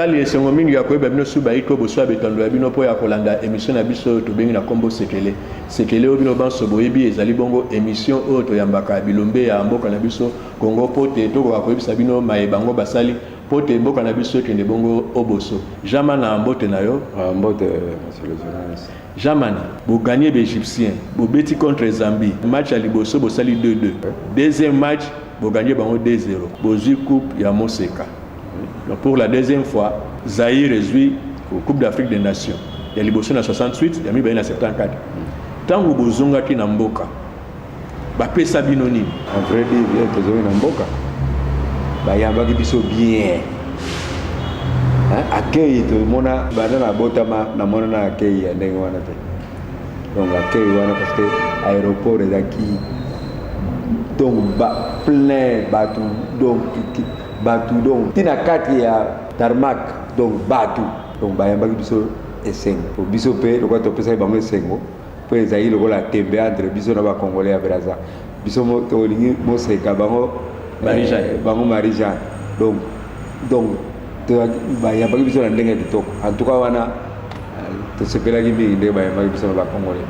etali esengo mingi ya koyeba bino suba iko boswa betondo ya bino mpo ya kolanda emission na biso oyo tobengi na nkombo sekele sekele oyo bino banso boyebi ezali bongo emission oyo toyambaka bilombe ya mboka na biso Congo mpo te tokoka koyebisa bino maye bango basali mpo te mboka na biso ekende bongo oboso. Jamana mbote na yo. Ah, mbote monsieur le journaliste. Jamana, boganye baegyptien, bobeti contre Zambie, match ya liboso bosali 2-2. Deuxième match, boganye bango 2-0. Bozwi coupe ya moseka. Donc pour la deuxième fois, Zaire ezwi Coupe d'Afrique des Nations ya liboso na 68 ya mibale na 74. Ntango bozongaki na mboka Ba pesa bino nini? En vrai dit bien tozali na mboka. Bayambaki biso bien. Hein? Accueil tomona banda na botama na mona na accueil ya ndenge wana te. Donc accueil wana parce que aéroport ezaki donc ba plein batu donc batu donc tina kati ya tarmac donc batu donc bayambaki biso esengo biso mpe lokola topesaki bango esengo mpo ezali lokola tembe entre biso na bacongolais ya braza biso tolingi moseka bango eh, bango marie jean donc donc bayambaki biso na ndenge ya kitoko en tout cas wana eh, tosepelaki mingi ndenge bayambaki biso na bacongolais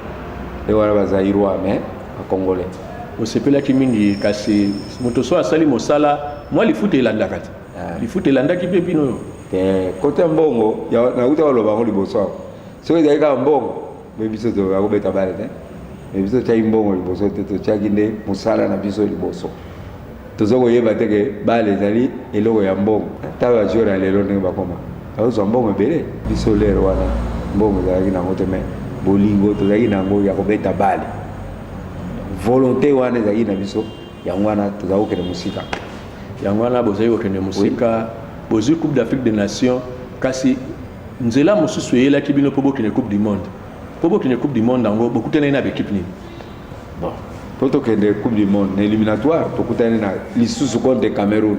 nde wana bazairois mais bacongolais osepelaki mingi kasi moto so asali mosala mwa lifuta elandaka te eh. lifuta elandaki mpe bino te kote ya mbongo nauta baloba yango liboso awa soki ezali kaka mbongo Mais biso tokoka kobeta bale te mais biso totyaki mbongo liboso te totyaki nde mosala na biso liboso toza koyeba te ke bale ezali eloko ya mbongo ata bajore ya lelo ndenge bakoma bazozwa mbongo ebele biso lere wana mbongo ezalaki nango te mai bolingo tozalaki nango ya kobeta bale volonté wana ezalaki na biso yango wana tozali kokende mosika yango wana bozali kokende mosika bozwi coupe d'afrique des nations kasi nzela mosusu eyelaki bino mpo bokende coupe du monde mpo bokende coupe du monde yango bokutanaki na baekipe nini bon mpo tokende coupe du monde na éliminatoire tokutani na lisusu contre cameroun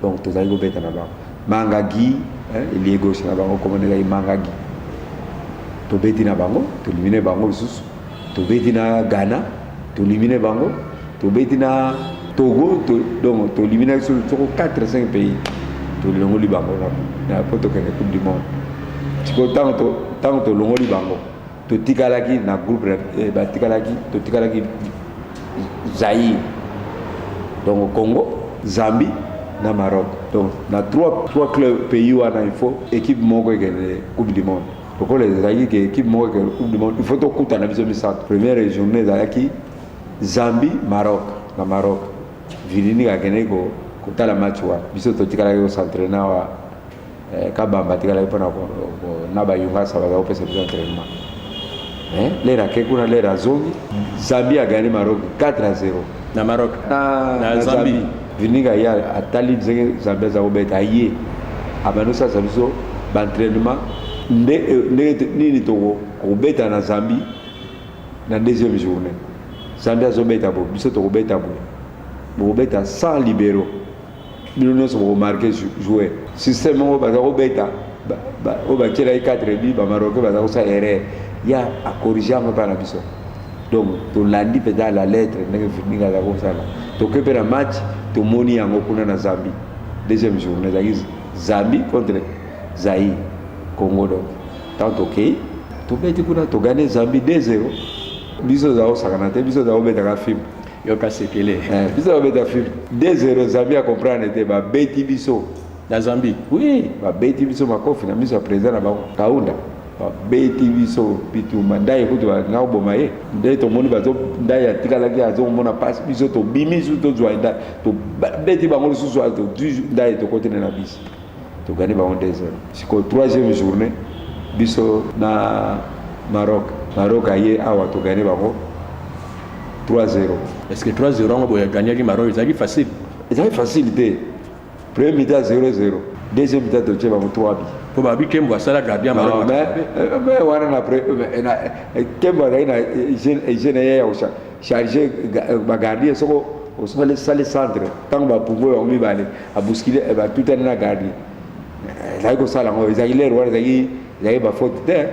Donc tozali kobeta na bango manga gi eh, elie gauche na bango komona ezali manga gi tobeti na bango tolimine bango lisusu tobeti na ghana tolimine bango tobeti na togo to, donc tolimine biso soko 4 5 pays tolongoli bango na po tokende coupe du monde sikoyo ntango tolongoli bango totikalaki na groupe eh, batikalaki totikalaki zaïre donc congo zambie na maroc donc na trois, trois club pays wana il faut équipe moko ekende coupe du monde lokola ezalaki ke équipe moko ekende coupe du monde il faut tokutana biso misato première journée ezalaki zambie maroc na maroc vilini akendeki kotala match wana biso totikalaki kocentraine wa Eh, kabamba atikalaki mpo na bayungasa bazala kopesa biso entraînement eh, lere ake kuna lere azongi zambie agani maroc 4 a 0 na maroc na zambie vininga ye atali ndenge zambie aza kobeta aye abandi osalisa biso baentraînement ndenge eh, nini tokobeta na zambie na deuxième journée zambie azobeta boye biso tokobeta boye bokobeta sans libéraux bino nyonso bokomarke joue systeme oyo baza kobeta oyo batyelaki 4 bi bamaroke baza kosala erreur ya akorige yango epai na biso donc tolandi mpenza la lettre ndenge findingi aza kosala toke mpe na match tomoni yango kuna na zambie deuxième journée ezalaki zambie contre zaï congo donc ntango tokei tobeti kuna togane zambie 2 0 biso ozala kosakana te biso ozala kobetaka filme yoka sekele eh, biso babeta film 2-0 zambi akomprendre te babeti biso na zambi oui babeti biso makofi na miso ya président na bango kaunda babeti biso bitumba ndai kutu balinga koboma ye nde tomoni bazo ndai atikalaki azomona mpasi biso tobimi su tozwa ndai tobeti bango lisusu tozwi ndai tokotene na bisi togani bango 2-0 sikoyo 3e journée biso na maroc maroc aye awa togani bango 3-0 est-ce que 3-0 yango boye gagnaki maroc ezalaki facile ezalaki facile te premier mi-temps 0-0 deuxième mi-temps totie bango 3 bi mpo babi kembo asala gardien maroc mais wana na kembo azalaki na hygiène ye ya kocharge bagardien soko osali centre ntango bapumbwe bango mibale a bousculer eh, ba tutani na garde ezali kosala yango ezali lere wana ezali ezali bafaute te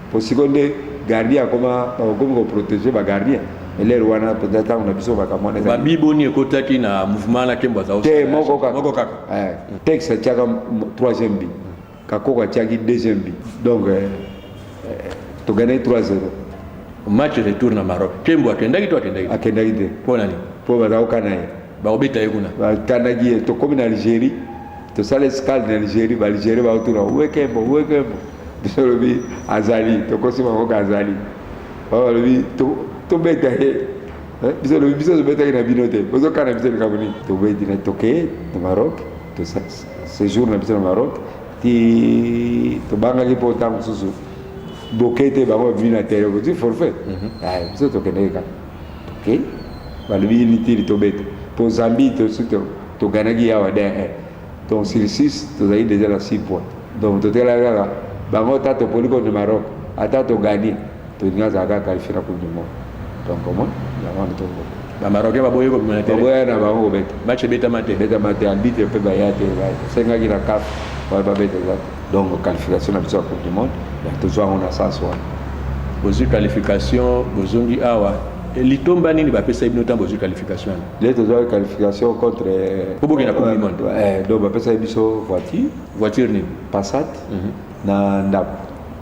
mpo siko nde gardien akoma bakomi koprotege bagardien elere wana mpenza ntango na biso makambo wana babiboni ekotaki na mouvement na kembo azao te moko kaka eh, texte atiaka troisième bi Kakoko atiaki deuxième but donc eh, eh, togane 3-0 match retour na Maroc. Kembo akendaki to akendaki? Akendaki te. Mpo na nini? Mpo baza kokana ye. Bakobeta ye kuna. Bakanaki ye, tokomi na Algérie, tosala escale na Algérie, ba Algérie bakotuna we Kembo, we Kembo. Biso olobi azali, tokosi bango ka azali. Balobi tobeta ye. Eh, biso olobi biso tobetaki na bino te. Bozokana biso likambo nini? Tobeti na toke na Maroc, tosasi. sejour na biso na maroc ti tobangaki mpo ntango mosusu boke te bango babimi na tere boti forfait mhm. ah, biso tokendeki kaka tokei balobi litili tobeta mpo zambi toganaki yawa de eh. donc sur 6 tozalaki deja na 6 point donc totelaki kaka bango ta topoli contre maroc ata togani Pedrinho azalaka kaka qualifie na coupe du monde donc omoni yango wana tobo ba marocain baboyi kobima na terrain baboya na bango kobeta match ebetama te ebetama te arbitre mpe baya te basengaki na caf wana babeta eza te donc qualification na biso ya coupe du monde ya tozwa yango na sens wana bozwi qualification bozongi awa eh, litomba nini bapesaki bino ntango bozwi qualification wana le tozwaki qualification contre obokenda coupe du monde eh, donc bapesaki biso voiture voiture nini passat mm -hmm. na ndako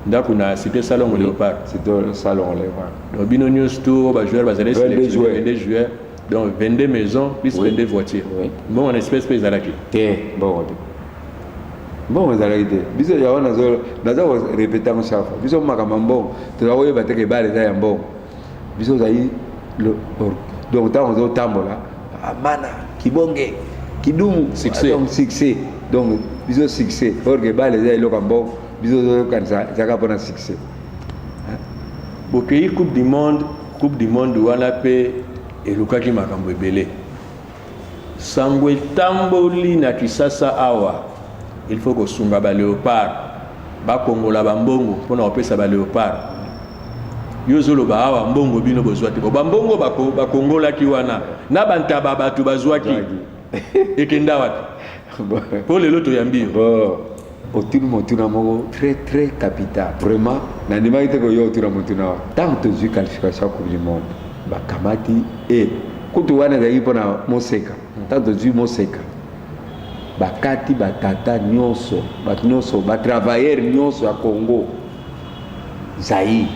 ndako na cité salongo léopard cité salongo léopard donc bino nyonso to bajoueur bazali sélectionne 22 juillet donc 22 maisons plus 22 voitures mbongo na espèce mpe ezalaki te mbongo te mbongo ezalaki te biso yango naza korepeta yango chaque fois biso makambo ya mbongo toza koyeba te kebale eza ya mbongo biso ozali donc ntango ozotambola ah, mana kibonge kidumu succès donc succès donc biso succès or que bale eza eloko ya mbongo biso ozoyokanisa ezaka mpo na succès bokei coupe du monde coupe du monde wana mpe elukaki makambo ebele Sango etamboli na kisasa awa il faut kosunga ba leopard bakongola ba mbongo mpona kopesa ba leopard yo ozoloba awa mbongo bino bozwa te ba mbongo bako bakongolaki wana na bantaba bato bazwaki ekenda wapi mpo lelo toyambi yo otuni motuna moko très très capital vraiment nandimaki te koyo otuna motuna wana ntango tozwi qualification ya coupe du monde bakamati e eh, kutu wana ezalaki mpo na moseka ntango tozwi moseka bakati batata nyonso bato nyonso batravailleur nyonso ya congo Zaïre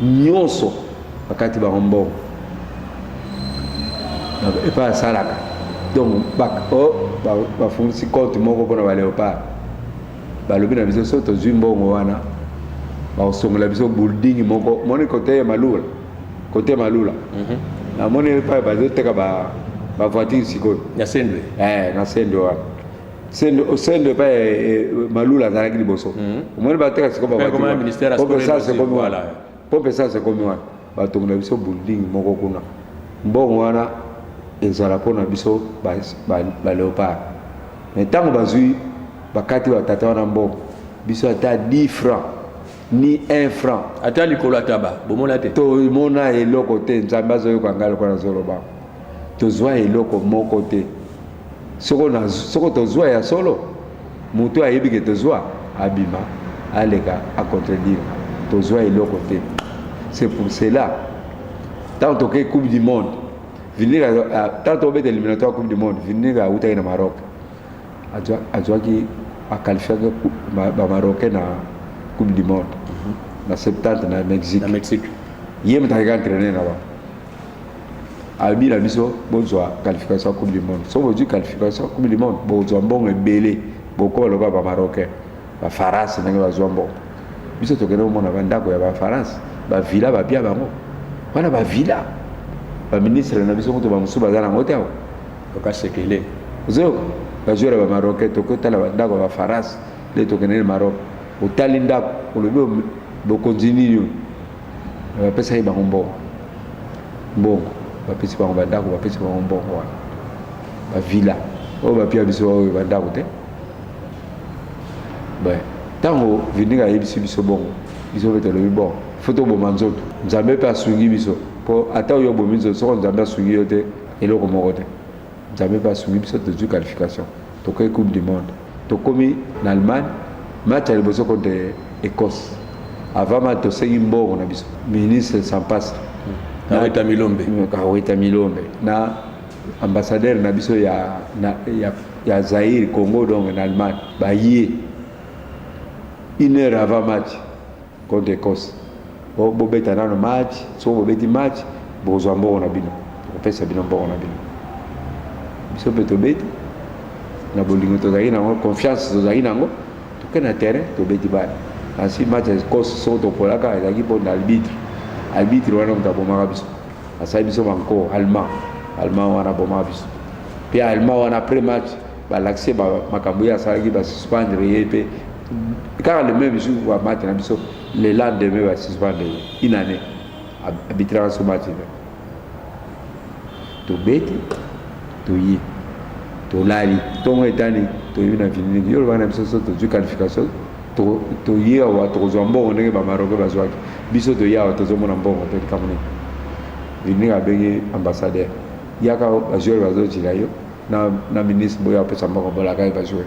nyonso bakati bango mbongo epai asalaka donc bafungisi compte moko mpona baleopard balobi na biso so tozwi mbongo wana bakosongola biso building moko moni kote ya malula kote ya malula mhm. namoni epai bazoteka bavoiture sikoyo na sendwe eh, na sendwe wana sendo sendo epai eh, eh, malula azalaki liboso hmm. omoni bateka sikobaesekomi wana pope sasa ekomi wana batongela biso building moko kuna mbongo wana ezala mpo na biso baleopard mai ntango bazwi bakati batata wana mbongo biso ata 10 franc ni 1 franc ata likolo ataba bomona te tomona eloko te nzambe azoyoka ngai lokola nazoloba tozwa eloko moko te soko, na, soko tozwa ya solo moto ayebi ke tozwa abima aleka acontredire tozwa eloko te c'est pour cela ntango tokei coupe du monde vinir ntango tokobeta éliminatoire coupe du monde vinir awutaki na maroc azwaki aqualifiaki bamarocain na coupe du monde mhm. na 70 na mexique ye moto akeka entraîner na bango alobi na biso bozwa qualification ya coupe du monde soki bozwi qualification ya coupe du monde bozwa mbongo ebele bokoma lokola bamarocain bafarance ndenge bazwa mbongo biso tokende komona bandako ya bafarance bavila babia bango wana bavila baministre na biso kutu bamosusu baza nango te awa yoka sekele ozoyoka bajoueur ya bamarocain tokoki otala bandako ya bafarance nde tokende na maroc otali ndako olobi bokonzi nini oyo Mais bapesa ye bango mbongo mbongo bapesi bango bandako bapesi bango mbongo wana bavila oyo bapia biso baoyo bandako te ntango vindinga ayebisi biso bongo biso mpe tolobi bon fo toboma nzoto nzambe mpe asungi biso mpo ata oyo obomi nzoto soko nzambe asungi yo te eloko moko te nzambe mpe asungi biso tozwi qualification tokei coupe du monde Tokomi na Allemagne match ya liboso contre Ecosse. Avant match tosengi mbongo na biso. Ministre Sampasa Kaweta Milombe. Kaweta Milombe na ambassadeur na biso ya na, ya ya Zaire Congo donc na Allemagne baye une heure avant match Contre Ecosse bo bobeta nano match, soki bobeti match bokozwa mbongo na bino, tokopesa bino mbongo na bino. Biso mpe tobeti na bolingo tozalaki na yango, confiance tozalaki na yango, toke na terrain tobeti bana ensuite match ya Ecosse soki topolaka ezalaki mpo na arbitre arbitre wana moto abomaka biso asali biso banko allemand allemand wana abomaka biso mpe allemand wana après match balakise makambo ye asalaki basuspendre ye mpe kaka le même jour wa match na biso le lendemain ba suspendre ye une année abitraka so match na tobeti toye tolali ntongo etani toyebi na vinini yo olobaka na biso so tozwi qualification toye awa tokozwa mbongo ndenge bamaroke bazwaki biso toye awa tozomona mbongo to likambo nini vinini abengi ambassadeur yaka bajoueur bazojila yo na ministre boyo apesa mbongo bolaka ye bajoueur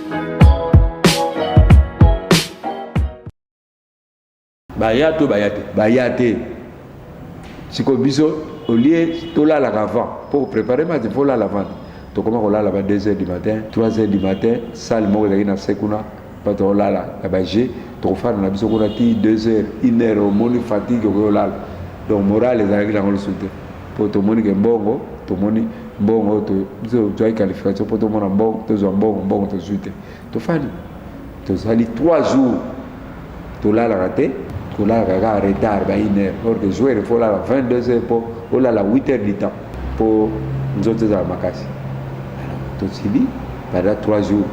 baya to baya te baya te sikoyo biso olie tolalaka avant mpo prépare mati mpo olala avant tokoma kolala ba 2 heures du matin 3 heures du matin sale moko ezalaki na se kuna mpo tokolala na baje tokofanda na biso kuna ti 2 heures 1 heure omoni fatigue okoki olala donc morale ezalaki nango lisusu te mpo tomoni ke mbongo tomoni mbongo tozwaki qualification mpo tomona mbongo tozwa mbongo mbongo tozwi te tofandi tozali 3 jours tolalaka te tolalaka kaka retard ba une heure or que joueur efo olala 22 heures mpo olala 8 heures du temps mpo nzoto ezala makasi tosili pendant 3 jours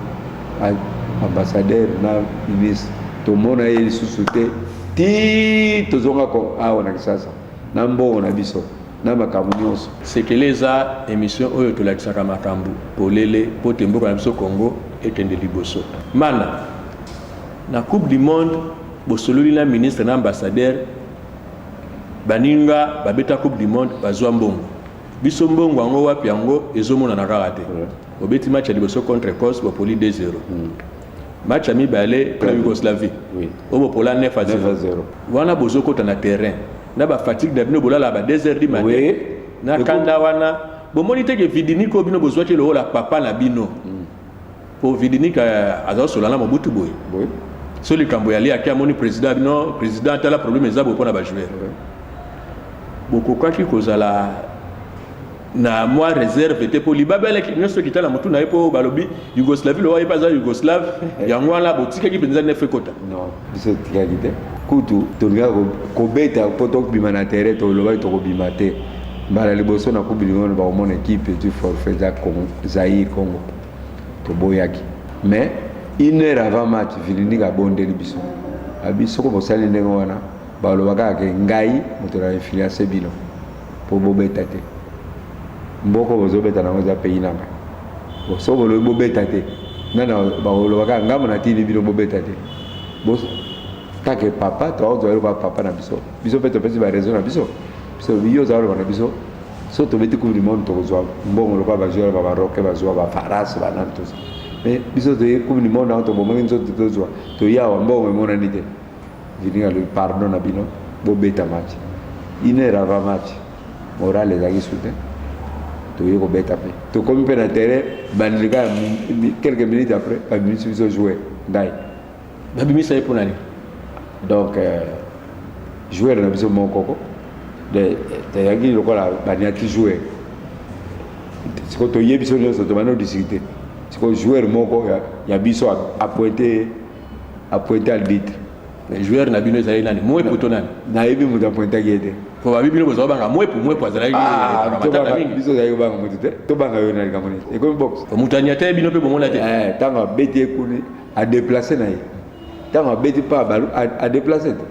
ambassadeur na ministre tomona ye lisusu te ti tozonga awa na kisasa na mbongo na biso na makambo nionso. Sekele eza emission oyo tolakisaka makambo polele po te mboka na biso Congo ekende liboso. Mana, na coupe du monde bosololi na ministre na ambassadeur baninga babeta coupe du monde bazua mbongo biso mbongo yango wapi yango ezomonana kaka te obeti match ya liboso contre Ecosse bopoli 2-0. match ya mibale na yougoslavie oui. oyo bopola 9 a 0 wana bozokota na terrain na bafatigue na bino bolala ba 2 heures du matin oui. na kanda wana bomoni te ke vidinike oyo bino bozwaki lokola papa na bino mm. po vidinike euh, aza kosola na mobutu boye oui. so likambo ya liaki amoni président bino président atala problème eza boye mpo na bajoueur oui. bokokaki kozala na mwa reserve te mpo libabe alaki nyonso ekita na motu na ye mpo balobi yougoslavie lowa ye mpe aza yougoslave yango wana botikaki mpenza nefe ekota non biso etikaki te kutu tolingaka kobeta mpo tokobima na terrain tolobaki tokobima te mbala liboso na coupe du monde bakomona ekipe etu forfait eza zaire congo toboyaki mais une heure avant match vilindika abondeli biso abi soko bosali ndenge wana balobaka ake ngai moto na influence bino po bobeta te mboko bozobeta nango eza pays nanga so bolobi bobeta te nana bakoloba kaka ngambo natindi bino bobeta te take papa toakozwa eloko ya papa na biso biso mpe topesi baraison na biso biso yo oza koloba na biso so tobeti coupe du monde tokozwa mbongo lokola bajoueur ba baroke bazwa bafarase banani toza mais biso toye coupe du monde yango tobomaki nzoto tozwa toyawa mbongo emonani te Vinny alobi pardon na bino bobeta match une heure avant match morale ezalaki su te toye kobeta mpe tokomi mpe na terrain bandeli kaka quelques minutes après babimisi biso joueur ngai babimisa ye mpo na nini donc euh, joueur na biso mokoko tayaki lokola baniati joueur sikoyo toyebi biso nyonso tobandi odiscute sikoyo joueur moko ya biso apointe A pointe arbitre. Mais joueur na bino ezali nani? Mwepu to nani? Nayebi moto apointaki ye te. Po babi bino bozwa banga mwepu, mwepu azalaki ah, matata mingi. Biso ozalaki kobanga moto te. Tobanga yo na likambo nini? Ekomi box. Moto anyata ye bino mpe bomona te. Eh, tango abeti ye kuni, a déplacer na ye. Tango abeti pa balu, a déplacer te.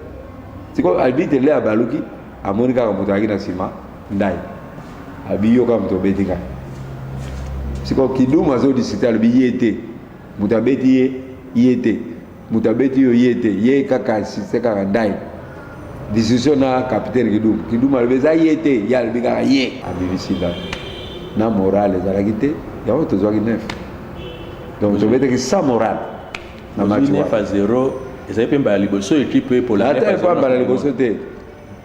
Siko arbitre le abaluki, amoni kaka moto ayaki na nsima ndai. Abiyoka moto obeti ngai. Siko kidumu azo discuter alobi ye te. Moto abeti ye, ye te. Moto abeti yo, ye te. Ye kaka asiste kaka ndai. Discussion na capitaine Kidum. Kidum alobi eza ye te, ye alobi kaka ye. Abimisi ndako. Na morale ezalaki te, yango tozwaki 9. Donc tobetaki sans morale na match wana. 9 à 0 ezali mpe mbala liboso ekipe epolonais. Ata epa mbala liboso te.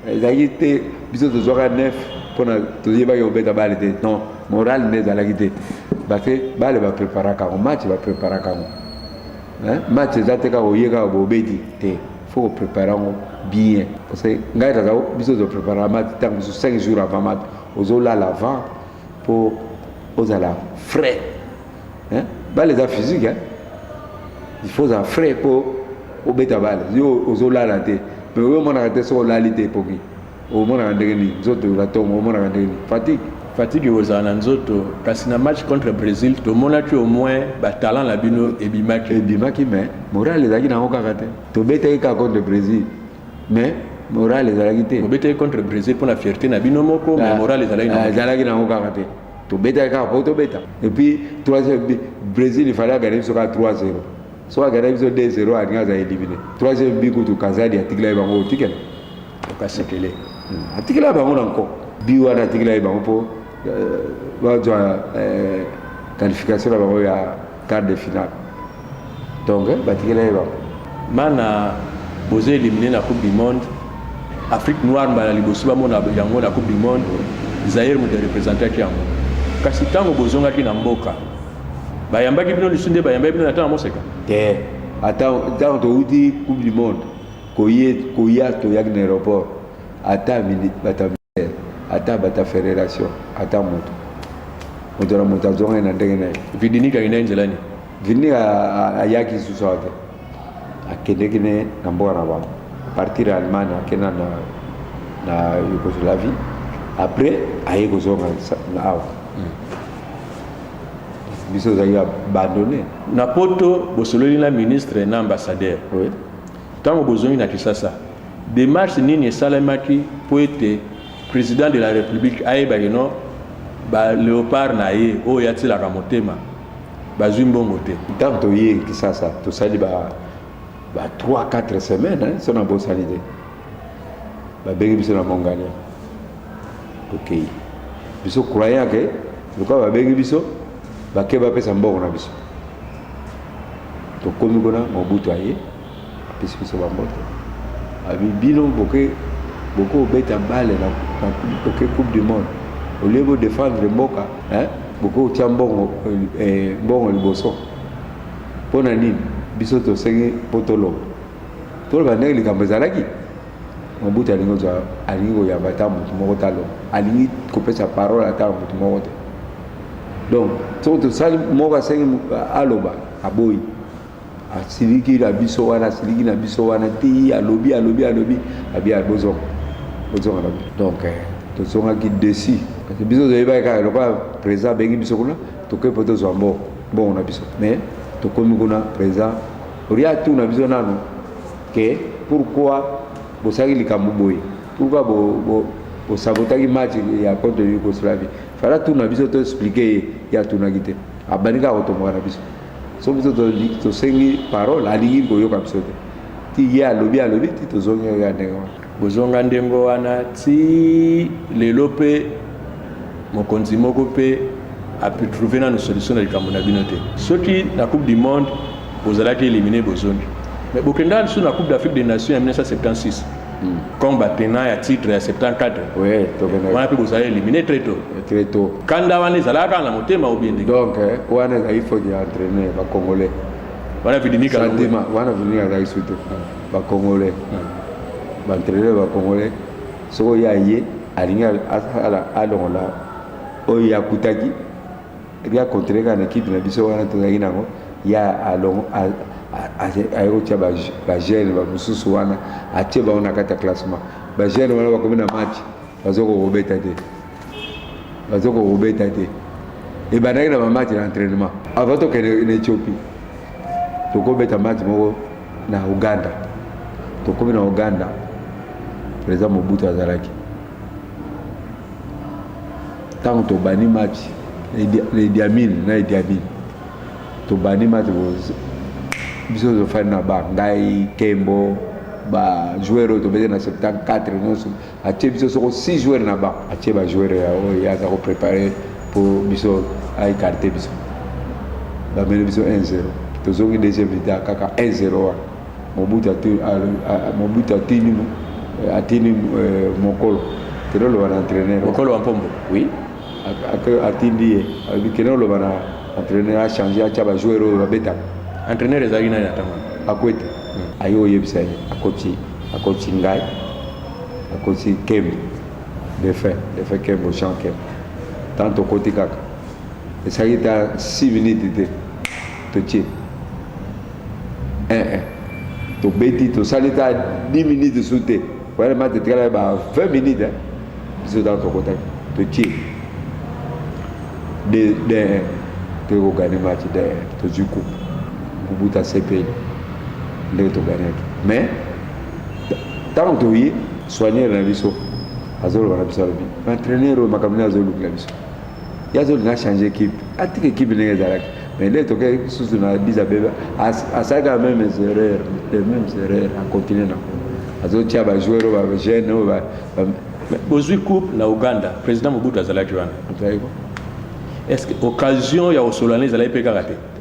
ezalaki te biso tozwaka nef mpona toyebaki kobeta bale te non morale nde ezalaki te parce bale bapreparaka yango match bapreparaka yango match eza te kaka oye kaka bobeti te fo koprepare yango bien parce que ngai tata biso tozoprepare match ntango mosusu 5 jours avant match ozolala avant mpo ozala frais hein bale eza physique hein il faut ozala frais mpo obeta bale yo ozolala te mais oyo omonaka te soki olali te ekoki omonaka ndenge nini nzoto olatongo omonaka ndenge nini fatigue fatigue ekozala na nzoto kasi na match contre brésil tomonaki au moins batalent na bino ebimaki ebimaki mais moral ezalaki nango kaka te tobetaki kaka contre brésil mais moral ezalaki te obetaki contre brésil mpo na fierté na bino moko mais ah, moral ezalaki ah, nango kaka te tobetaki kaka mpo tobeta epuis brésil ifale agane biso kaka 3 0 soki agana biso 2 0 alingi aza elimine 3 bi kutu kazadi atikilaki bango otikela okasekele hmm. atikela bango na nko bi wana atikilaki bango mpo euh, bazwa euh, qualification na bango ya Quart de finale. Donc batikela ye bango. Bana bozo eliminer na coupe du monde. Afrique noire mbala liboso bamona yango na coupe du monde. Zaire moto representaki yango. Kasi ntango bozongaki na mboka bayambaki bino lisu nde bayambaki bino na ntango moseka te. Ata ntango touti coupe du monde koye koya toyaki na aéroport ata bata ministère ata bata federation ata moto moto na moto azongaki na ndenge na ye vidinike akenda ye nzela nini vidinike ayaki lisusu awa te akendeki ne na mboka na bango partir ya allemagne akenda na, na yougoslavie après aye kozonga na awa hmm. biso ozali abandonne na poto bosololi na ministre na ambassadeur oui. Tango bozongi na Kisasa, demarche nini esalemaki mpo ete President de la Republique ayeba que non ba Leopards na ye oyo atielaka motema bazui mbongo te? Tango toye Kisasa, tosali ba ba trois, quatre semaines hein, soki nabosani te, babengi biso na Mongalia. tokei biso croyant ke lokola babengi biso bake bapesa mbongo na biso tokomi kuna mobutu aye apesi biso bamboto abi bino boke boke obeta bale na oke coupe du monde olie bodefendre mboka boke otya mbongo eh, mbongo liboso mpo na nini biso tosengi mpo toloba toloba ndenge likambo ezalaki Mobutu alingi kozwa alingi koyamba ata moto moko te aloba alingi kopesa parole ata na moto moko te donc soki tosali moko asengi aloba aboyi asiliki na biso wana asiliki na biso wana ti alobi alobi alobi abi abozonga bozonga na biso donc eh, tozongaki desi kasi biso toyebaki kaka lokola président abengi biso kuna tokei mpo tozwa mbongo mbongo na biso mais tokomi kuna président olia tuna biso nano que pourquoi bosalaki likambo boye pourquoi bosabotaki match ya contre yougoslavie fala tuna biso to explike ye ye atunaki te abandi kaka kotomboka na biso so biso tosengi parole alingi koyoka biso te ti ye alobi alobi ti tozongi oyo ya ndenge wana Kozonga ndembo wana tii lelo mpe mokonzi moko mpe a pu trouver nanu solution na likambo na bino te. Soki na coupe du monde bozalaki elimine bozongi mais bokenda lisusu na coupe d'Afrique des nations ya 1976 Hmm. comme ba tenants ya titre ya 74 Oui, tokende. wana mpe bozali elimine très tôt. Très tôt. Kanda wana ezalaka kaka na motema ou bien ndenge Donc, eh, wana ezali faute ya entraîneur, ba Congolais. wana vidimika Sentiment, wana vini azalaki surtout. ba congolais ba entraîneur ba congolais soko ya ye alingi asala alongola oyo ye akutaki ebi akontrele kaka na ekipe na biso wana tozalaki nango ye alongo aye kotya bagene bamosusu wana atie bango na kati ya classement bagene wana bakomi na match bazokoki kobeta te baza kokobeta te ebandaki na bamatch na entraînement avant tokende na ethiopie tokobeta match moko na uganda tokomi na uganda président mobutu azalaki ntango tobandi match na idiamine na idiamine tobandi match biso tozofandi na ba ngai kembo bajoueur oyo tobete na 74 nyonso Atie biso soko 6 joueurs na banc. Atie ba joueurs ya oyo ye aza ko preparer po biso a ecarter biso. Ba meli biso 1-0. Tozongi deuxième mi-temps kaka 1-0 wana. Mobutu atu Mobutu atini atini euh, mokolo. Kende loba na entraîneur. Mokolo wa Mpombo. Oui. Atindi ye. Alobi kende loba na entraîneur a changer atia ba joueurs oyo babetaka. Entraîneur ezalaki nani atanga? Akwete. Hmm. Ayo oyebisa ye. Akoti akoti ngai. akosi kembo defunt defunt kembo jean kembo ntango tokoti kaka esalaki ta 6 minute te totie ee tobeti tosali ta 10 minute su te oyana mati etikala ba 20 minute biso ntango tokotaki totie de de tokogane mati de tozwi kupu kubuta sepeli ndenge toganaki mais ntango toye soigneur na biso azoloba na biso alobi entraîneur oyo makambo nde azolukela biso ye azolinga achange ekipe atika ekipe ndenge ezalaki mais nde tokei susu na biza bebe asalaka ya meme erreur le meme erreur akontinue na azotia bajoueur oyo bajeune oyo bozwi coupe na uganda président mobutu azalaki wana est ce que occasion ya kosolana ezalaki mpe kaka te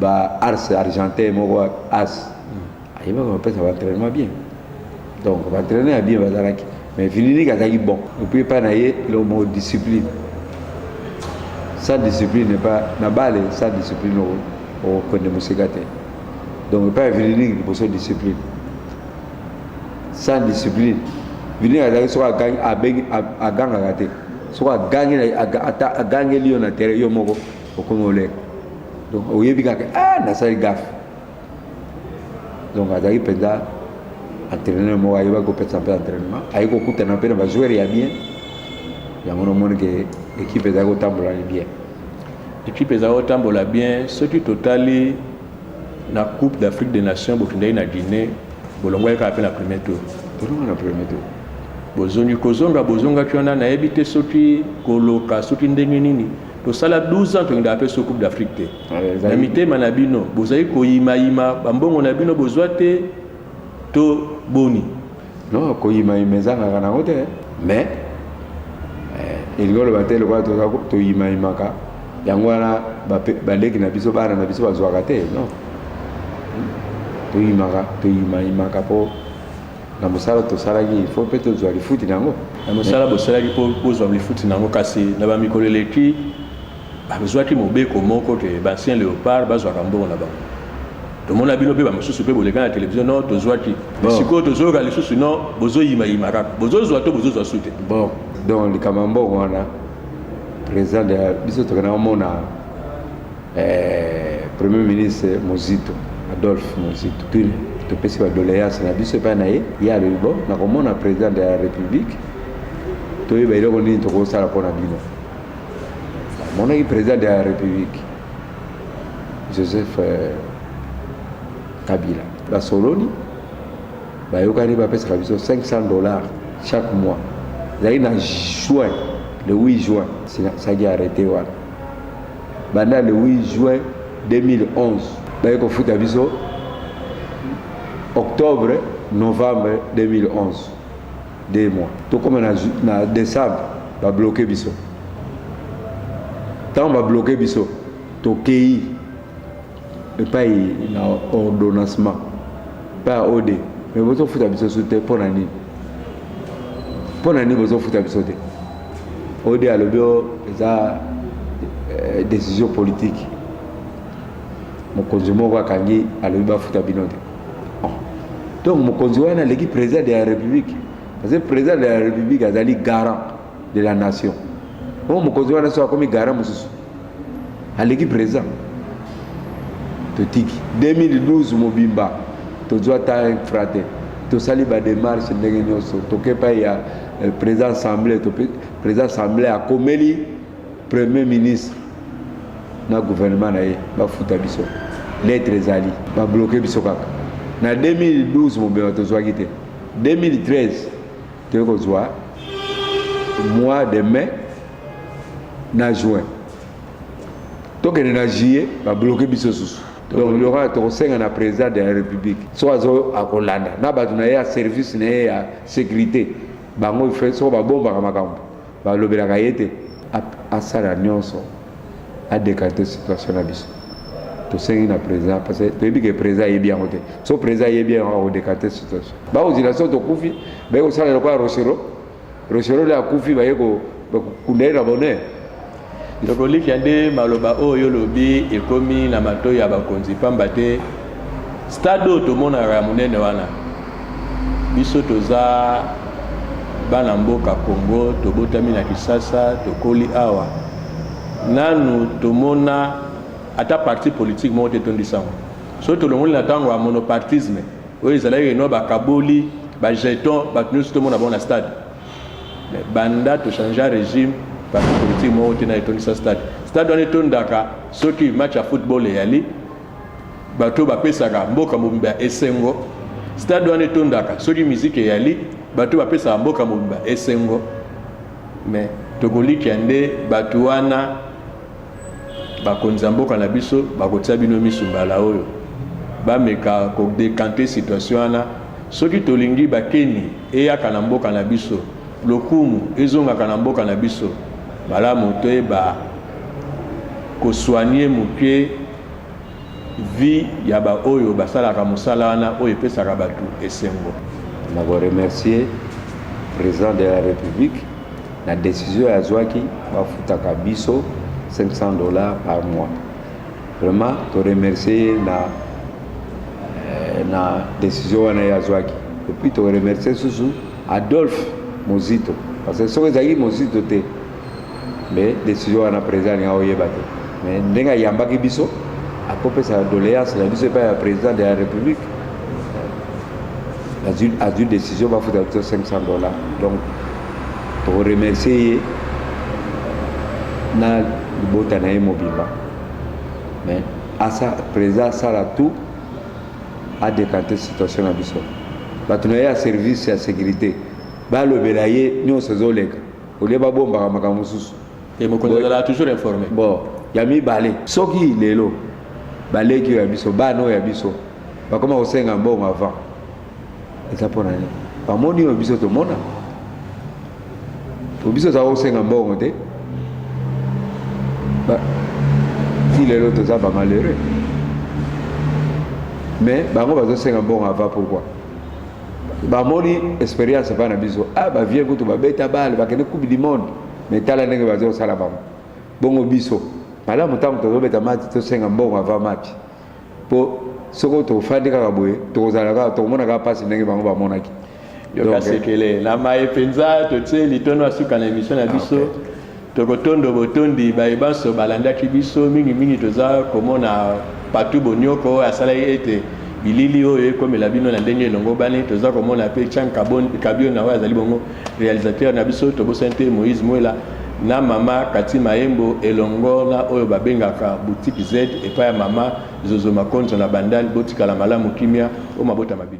ba ars argentin moko as ayebaka bapesa baentraînement bien donc baentraîneur ya bien bazalaki mais vininique azalaki bon epuis epai na ye lomo discipline sans discipline epa na bale sans discipline okokende mosika te donc epai ya vininique liboso discipline sans discipline vininique azalaki soko agangaka te soko agangi agangeli yo na terrain yo moko okomi oleka donc oyebi kaka ah nasali gafe donc azalaki mpenza entraîneur moko ayebaki kopesa mpe entraînement aye kokutana mpe na bajoueur ya bien yango nomoni ke ekipe ezali kotambola ni bien ekipe ezali kotambola bien soki totali na coupe d'afrique des nations bokendaki na guinée bolongwaki kaka mpe na premier tour bolonga na premier tour bozongi kozonga bozongaki wana nayebi te soki koloka soki ndenge nini tosala 12 ans tokendaka mpe so coupe d'afrique te ah, na mitema na bino bozali koyimayima bambongo na bino bozwa te to boni no koyimayima ezangaka nango te mais eh, elingi oloba te lokola toyimayimaka yango wana baleki na biso bana na biso bazwaka te non toyimaka toyimayimaka mpo na mosala tosalaki il faut mpe tozwa lifuti na yango na mosala bosalaki mpo bozwa lifuti na yango kasi na bamikolo eleki bazwaki mobeko moko ke baancien leopard bazwaka mbongo na bango tomona bino mpe bamosusu mpe boleka na televizio no tozwaki sikoyo tozoyoka lisusu no bozoyimayima kaka bozozwa to bozozwa su te bon donc likambo ya mbongo wana président de biso tokenda komona Eh, Premier ministre Mozito Adolphe Mozito Tule topesi ba doléance na biso epai na ye ye alobi bo nakomona président de la république toyeba eloko nini tokosala mpo na bino amonaki président de la république joseph euh, kabila basololi bayokani bapesaka biso 500 dollars chaque mois ezali na juin le 8 juin saki arrete wana Banda le 8 juin 2011 baye kofuta biso octobre novembre 2011 de mois tokoma na, na décembre babloke biso ntango babloke biso tokei epayi na ordonancement epayi ya ode me bozofuta biso su te mpo na nini mpo na nini bozofuta biso te ode alobi o eza eh, décision politique mokonzi moko akangi alobi bafuta bino te oh. donc mokonzi wana aleki président de la république parce que président de la république azali garant de la nation oyo oh, mokonzi wana so akomi gara mosusu aleki président totiki 2012 mobimba tozwa ta infra te tosali bademarche ndenge nyonso toke epai ya eh, président assemblée président assemblée akomeli premier ministre na gouvernement na ye bafuta biso lettre ezali babloke biso kaka na 2012 mobimba tozwaki te 2013 Toye kozwa mois de mai na juin tokende na juillet babloke biso susu donc loka tokosenga na président de la république so azo akolanda na bato na ye ya service na ye ya sécurité bango fe soko babombaka makambo Balobelaka ye te asala nionso a decanter situation na biso. Tosengi na president parce que toyebi ke president ayebi yango te. Soki president ayebi yango ako decanter situation. Bakozila soki tokufi baye kosala lokola Rochereau. Rochereau nde akufi baye ko kunda ye na bonheur. Ndeko Likia nde maloba oyo yo lobi ekomi na matoyi ya bakonzi pamba te stade oyo tomonaka ya monene wana biso toza bana mboka Congo tobotami na Kisasa tokoli awa nanu tomona ata parti politique moko te etondisa yango soki tolongoli na ntango ya monopartisme oyo ezalaki eno bakaboli bajeton bato nyonso tomona bango na stade banda to changea regime parti politique moko te na etondisa stade stade wana etondaka soki match ya football eyali bato bapesaka mboka mobimba ya esengo stade wana etondaka soki miziki eyali bato bapesaka mboka mobimba esengo me tokolikia nde bato wana bakonzi ya mboka na biso bakotia bino misu mbala oyo bameka kodekante situation wana soki tolingi bakeni Eyaka na mboka na biso. Lokumu ezongaka na mboka na biso. Malamu toyeba ko soigner muke vie ya ba oyo basalaka mosala wana oyo epesaka batu esengo. Na ko remercier President de la Republique na decision azwaki bafutaka biso 500 dollars par mois. Vraiment to remercier ye na eh, na decision wana ye azwaki epuis toremercie susu adolphe mozito parce que soki ezalaki mozito te mais decision wana président alinga oyeba te mais ndenge ayambaki biso akopesa doléance na biso epai ya président de la république azwi azwi décision bafuta biso 500 dollars donc toremercie ye na libota na ye mobimba mais asa president asala tout a decante situation na biso bato na ye ya service ya securite balobela ye nyonso ezoleka olie babombaka makambo mosusu bo ya mibale soki lelo baleki oyo ya biso bana oyo ya biso bakoma kosenga mbongo avant eza mpo na nini bamoni oyo biso tomona po biso toza kosenga mbongo te ti lelo toza bamalheureux mais bango bazosenga mbongo ava pourkui bamoni expérience epai na biso a ah, bavie kutu babeta bale bakende coupe du monde mais tala ndenge baza kosala bango bongo biso malamu ntango tozobeta mati tosenga mbongo ava mati po soko tofandi kaka boye tokozala kaka tokomona kaka mpasi ndenge bango bamonaki yoka eh. sekele na maye mpenza totie litono ya suka na emission na biso ah, okay. tokotondo botondi baye banso balandaki biso mingimingi toza komona patu bonioko oyo asalaki ete bilili oyo ekomela bino na ndenge elongobani toza komona mpe chan kabiona oyo azali bongo Realisateur na biso tobosani te Moïse Mwela na mama Kati Maembo elongo na oyo babengaka boutique Z epai ya mama Zozo Makonzo na Bandal botikala malamu kimia o mabota ma bino.